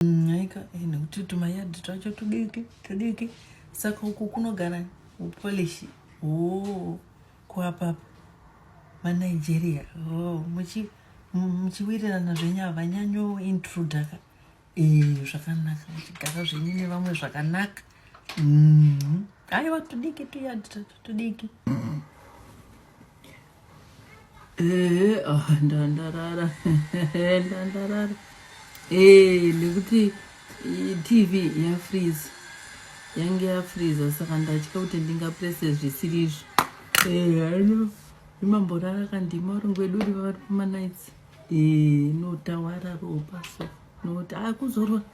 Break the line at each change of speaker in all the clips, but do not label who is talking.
Nyaika mm, eh, nekuti tumayadhi twacho tudiki tudiki saka uku kunogara upolishi oh, kuapapa manigeria oh, muchi muchiwirirana zvenyu havanyanyo intruda ka eh, zvakanaka muchigara zvenyu nevamwe zvakanaka mm. aiwa tudiki tuyadhi tudiki Eh, ah, ndandarara ndandarara eh, nekuti tv yafreeze yange yafreeza saka ndatya kuti ndingaprese zvisiri izvo ano eh, imamborara kandima uri ngwedu uri vavari kumanights eh, notawara ropa so noti akuzorora ah,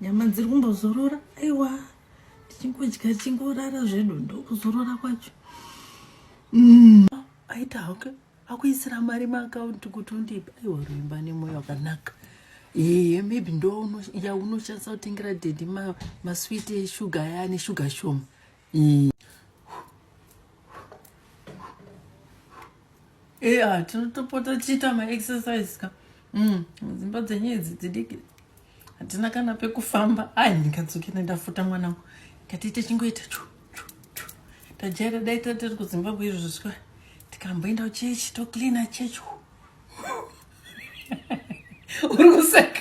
nyama dziri kumbozorora aiwa tichingodya chingorara zvedu ndokuzorora kwacho mm. aita hake akuisira mari maakaunti kuti undipa aiwa ruimba nemwoyo wakanaka ee maybe ndo yaunoshandisa kutengera dedi maswiti ma eshuga aya ane shuga shoma ee Yeah, tinotopota tichiita maexercise ka mm, dzimba dzenyu idzi dzidiki hatina kana pekufamba ai ndikadzoke ndandafuta mwana wangu katiite chingoita chu chu chu tajaira dai tatiri kuzimbabwe izvo zviswa tikamboenda kuchechi tocleana chechi uri kuseka